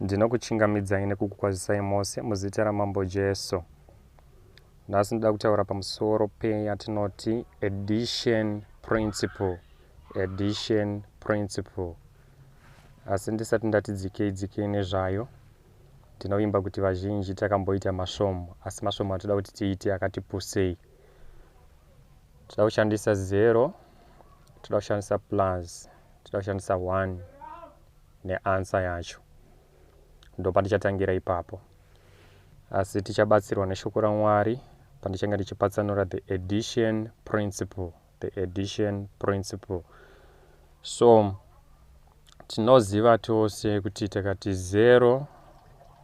Ndinokuchingamidzai nekukukwazisai mose muzita raMambo Jesu. Nhasi ndoda kutaura pamusoro peyatinoti addition principle. Addition principle. Asi ndisati ndati dzikei dzikei nezvayo, ndinovimba kuti vazhinji takamboita masvomo, asi masvomo atoda kuti tiite akati pusei. Toda kushandisa zero, toda kushandisa plus. tinoda kushandisa one neansa yacho ndopatichatangira ipapo asi tichabatsirwa neshoko ramwari pandichange ndichipatsanura the edition principle the edition principle so tinoziva tose kuti takati 0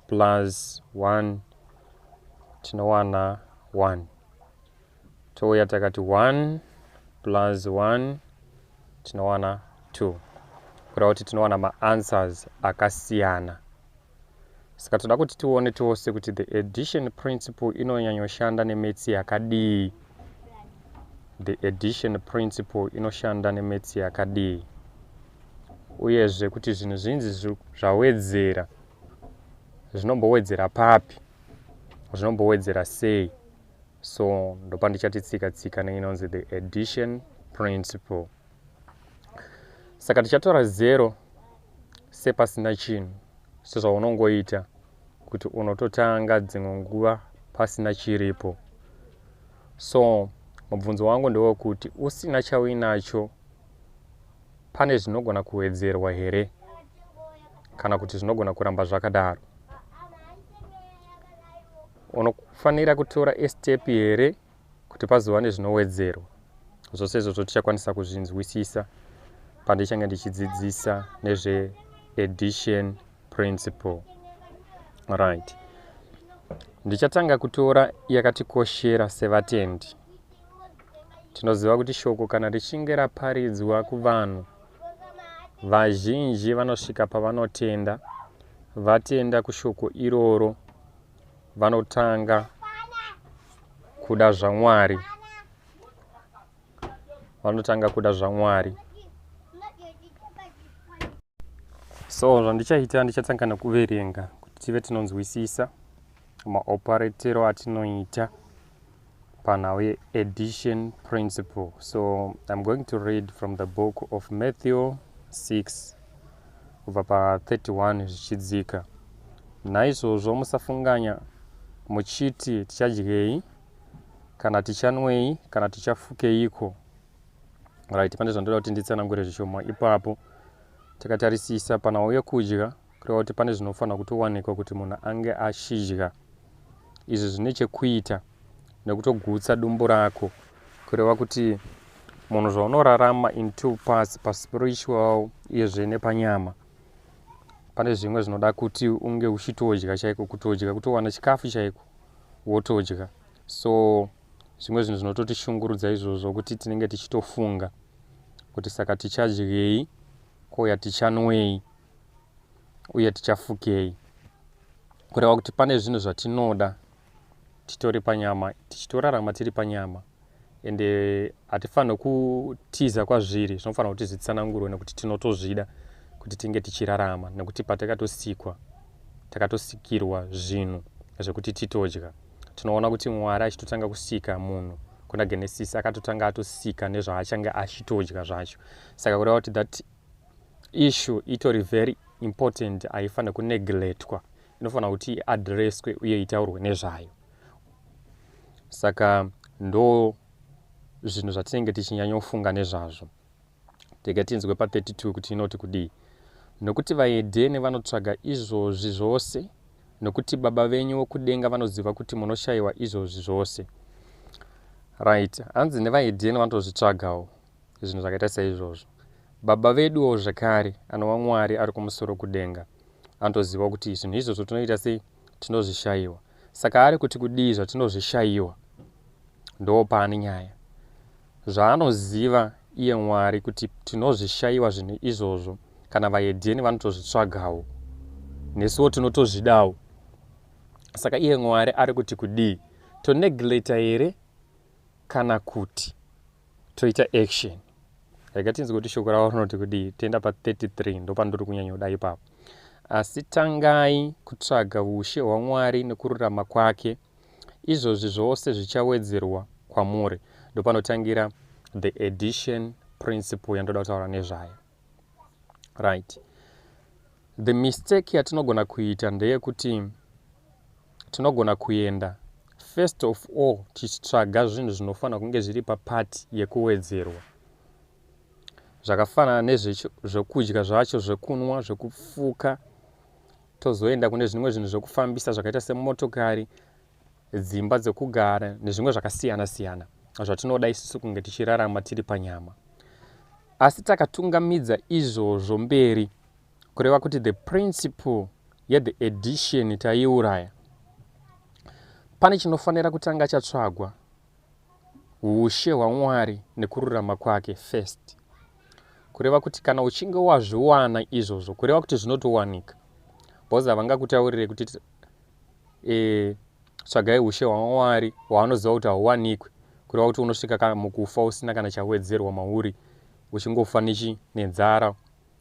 plus 1 tinowana 1 Touya takati 1 plus 1 tinowana 2 kureva kuti tinowana maanswers akasiyana saka toda kuti tione tose kuti the addition principle inonyanyoshanda nemetsi yakadii the addition principle inoshanda nemetsi yakadii uyezve kuti zvinhu zvinzi zvawedzera zvinombowedzera papi zvinombowedzera sei so ndopandichati tsika tsika neinonzi the addition principle saka tichatora zero sepasina chinhu sezvaunongoita kuti unototanga dzimwe nguva pasina chiripo so mubvunzo wangu ndewekuti usina chauinacho pane zvinogona kuwedzerwa here kana kuti zvinogona kuramba zvakadaro unofanira kutora step here kuti pazova nezvinowedzerwa zvose izvozvo tichakwanisa kuzvinzwisisa pandichange ndichidzidzisa nezveaddition principle right ndichatanga kutora yakatikoshera sevatendi tinoziva kuti shoko kana richinge raparidzwa kuvanhu vazhinji vanosvika pavanotenda vatenda kushoko iroro vanotanga kuda zvamwari vanotanga kuda zvamwari so zvandichaita ndichatanga nekuverenga kuti tive tinonzwisisa maoparetero atinoita panhau yeaddition principle so im going to read from the book of matthew 6 kubva pa31 zvichidzika naizvozvo musafunganya muchiti tichadyei kana tichanwei kana tichafukeiko right pane zvandoda kuti nditsanangure zvishoma ipapo takatarisisa panhau yekudya kureva kuti pane zvinofanira kutowanikwa kuti munhu ange achidya izvi zvine chekuita nekutogutsa dumbu rako kureva kuti munhu zvaunorarama in two parts paspiritual iyezve nepanyama pane zvimwe zvinoda kuti unge uchitodya chaiko kutodya kutowana chikafu chaiko wotodya so zvimwe zvinhu zvinototishungurudza izvozvo kuti tinenge tichitofunga kuti saka tichadyei ko yatichanwei uye tichafukei kureva kuti pane zvinhu zvatinoda titori panyama tichitorarama tiri panyama ende hatifanirwe kutiza kwazviri zvinofanira kuti zvitsanangurwe nekuti tinotozvida kuti tinge tichirarama nekuti patakatosikwa takatosikirwa zvinhu zvekuti titodya tinoona kuti mwari achitotanga kusika munhu kuna genesis akatotanga atosika nezvaachange achitodya zvacho saka kureva kuti that Issue itori very important haifanire kuneglectwa inofanira kuti iadresswe uye itaurwe nezvayo saka ndo zvinhu zvatinenge tichinyanyofunga nezvazvo tega tinzwe pa32 kuti inoti kudii nokuti vaedheni vanotsvaga izvozvi zvose nokuti baba venyu vokudenga vanoziva kuti munoshayiwa izvozvi zvose right hanzi nevaedheni vanotozvitsvagawo zvinhu zvakaita seizvozvo baba veduwo zvekare anova mwari ari kumusoro kudenga anotoziva kuti zvinhu izvozvo tinoita sei tinozvishayiwa saka ari kuti kudii zvatinozvishayiwa ndoo paane nyaya zvaanoziva iye mwari kuti tinozvishayiwa zvinhu izvozvo kana vaedheni vanotozvitsvagawo nesuwo tinotozvidawo saka iye mwari ari kuti kudii tonegleta here kana kuti toita action rega tinzi kuti shoko ravo rinoti kudii toenda pa 33 ndopandiri kunyanyoda ipapo asi tangai kutsvaga ushe hwamwari nekururama kwake izvozvi zvose zvichawedzerwa kwamuri ndopanotangira the edition principle yandoda kutaura nezvayo right the mistake yatinogona kuita ndeyekuti tinogona kuenda first of all tichitsvaga zvinhu zvinofanira kunge zviri papati yekuwedzerwa zvakafanana nezvekudya zvacho zvekunwa zvekufuka tozoenda kune zvimwe zvinhu zvekufambisa zvakaita semotokari dzimba dzekugara nezvimwe zvakasiyana siyana zvatinoda isusu kunge tichirarama tiri panyama asi takatungamidza izvozvo mberi kureva kuti the principle yethe edition taiuraya pane chinofanira kutanga chatsvagwa ushe hwamwari nekururama kwake first kureva kuti kana uchinge wazviwana izvozvo kureva kuti zvinotowanika bhozi havangakutaurire kuti e, tsvagai ushe hwamwari hwaanoziva kuti hauwanikwe kureva kuti unosvika kana mukufa usina kana chawedzerwa mauri uchingofa nechi nenzara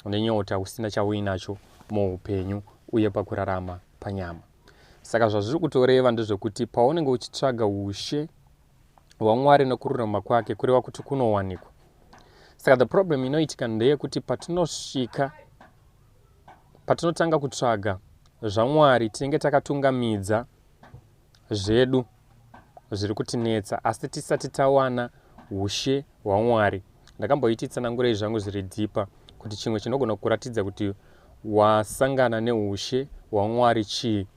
nenyota usina chauinacho muupenyu uye pakurarama panyama saka zvazviri kutoreva ndezvekuti paunenge uchitsvaga ushe hwamwari nekururama kwake kureva kuti kunowanikwa saka the problem inoitika ndeyekuti patinosvika Patinotanga kutsvaga zvaMwari tinenge takatungamidza zvedu zviri kutinetsa asi tisati tawana ushe hwaMwari. Ndakamboiti tsanangurei zvangu zviri dhipa kuti chimwe chinogona kuratidza kuti wasangana neushe hwaMwari chii.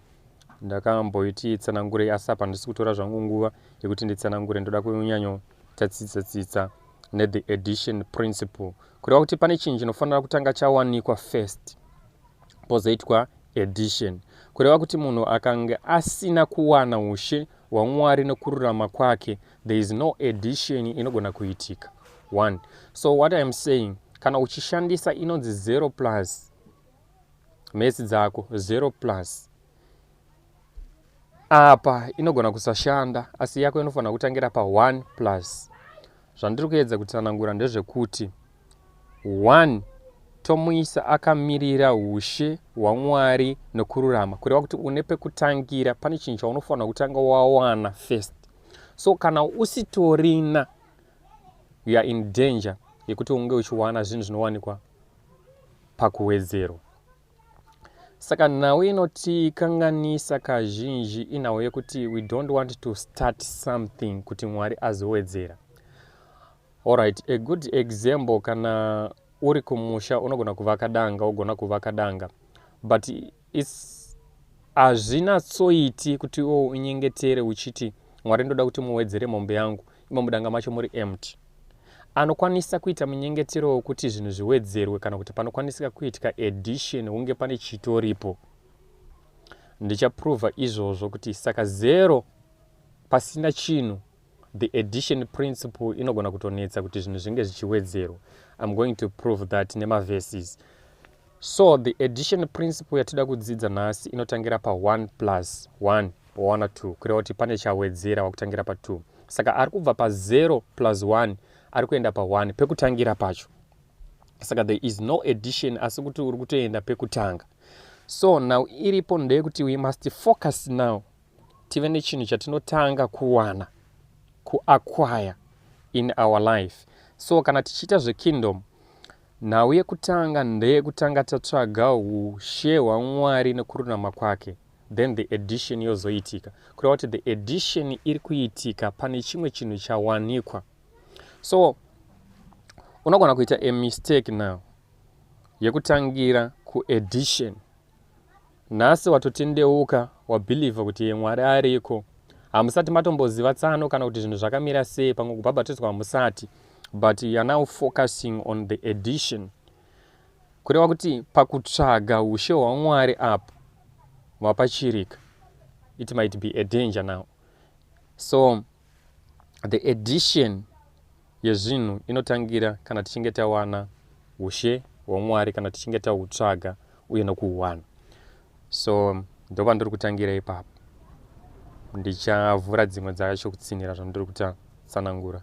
Ndakamboiti tsanangurei asi apa ndisi kutora zvangu nguva yekuti nditsanangure ndoda kunyanyo tatsitsa tsitsa ne the edition principle. kureva kuti pane chinhu chinofanira kutanga chawanikwa first pozoitwa edition kureva kuti munhu akange asina kuwana ushe hwamwari nokururama kwake there is no edition inogona kuitika one so what iam saying kana uchishandisa inonzi zero plus mesi dzako zero plus apa inogona kusashanda asi yako inofanira kutangira pa 1 plus zvandiri kuedza kutsanangura ndezvekuti 1 tomuisa akamirira ushe hwamwari nokururama kureva kuti une pekutangira pane chinhu chaunofanira kutanga wawana first so kana usitorina you are in danger yekuti unge uchiwana zvinhu zvinowanikwa pakuwedzerwa Saka nhau inotikanganisa kazhinji inhau yekuti we don't want to start something kuti Mwari azowedzera. Alright, a good example kana uri kumusha unogona kuvaka danga wogona kuvaka danga but its hazvinatsoiti kuti iwo unyengetere uchiti mwari ndoda kuti muwedzere mombe yangu imo mudanga macho muri empty anokwanisa kuita munyengetero wekuti zvinhu zviwedzerwe kana kuti panokwanisika kuitika edition hunge pane chitoripo ndichaprova izvozvo kuti saka zero pasina chinhu the edition principle inogona kutonetsa kuti zvinhu zvinge zvichiwedzerwa im going to prove that nemaverses So the addition principle yatida kudzidza nhasi inotangira pa 1 plus 1 wawana 2 kureva kuti pane chawedzera wakutangira pa 2 saka ari kubva pa 0 plus 1 ari kuenda pa 1 pekutangira pacho saka there is no addition asi kuti uri kutoenda pekutanga so now iripo ndeyekuti we must focus now tive nechinhu chatinotanga kuwana kuakwaya in our life so kana tichiita zvekingdom Nhau yekutanga ndeyekutanga tatsvaga ushe hwaMwari nekururama kwake then the edition yozoitika kureva kuti the edition iri kuitika pane chimwe chinhu chawanikwa so unogona kuita a mistake now yekutangira kuedition Nhasi watotendeuka wabhilivha kuti Mwari ariko. Hamusati matomboziva tsano kana kuti zvinhu zvakamira sei pamwe kubhabhatidzwa hamusati but you are now focusing on the edition. Kureva kuti pakutsvaga ushe hwaMwari apo mapachirika. It might be a danger now. So the edition yezvinhu inotangira kana tichinge tawana ushe hwaMwari, kana tichinge tahutsvaga uye nokuhuwana. So ndova ndiri kutangira ipapo, ndichavhura dzimwe dzacho kutsinhira zvandiri kutsanangura.